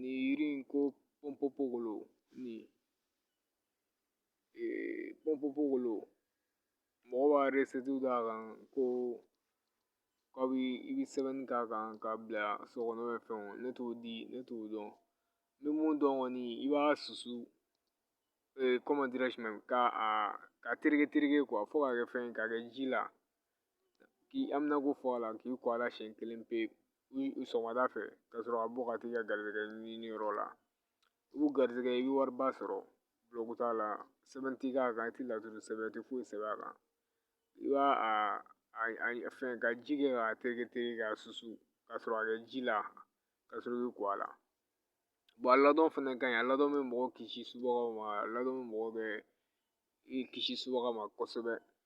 nin yiri in ko pɔnpɔnpogolo pɔnpɔnpogolo mɔgɔ b'a d'a kan ko k'a bi i bi sɛbɛnni k'a kan k'a bila so kɔnɔ fɛnw ne t'o di ne t'o dɔn n bɛ mun dɔn kɔni i b'a susu k'a a tereke tereke fo k'a kɛ fɛn ye k'a kɛ ji la k'i amina ko fɔ a la k'i ko a la siɲɛ kelen pe i sɔgɔmada fɛ ka sɔrɔ ka bɔ ka t'i ka garijɛgɛ ɲini yɔrɔ la i b'u garijɛgɛ i bɛ wariba sɔrɔ bulɔku t'a la sɛbɛn tɛ k'a kan i tɛ lɛtiri sɛbɛn i tɛ foyi sɛbɛn a kan i b'a a fɛn ka ji kɛ k'a tereke tereke k'a susu ka sɔrɔ a kɛ ji la ka sɔrɔ i bɛ ko a la a ladon fɛnɛ ka ɲi a ladon bɛ mɔgɔ kisi subagaw ma a ladon bɛ mɔgɔ bɛ i kisi subaga ma kosɛbɛ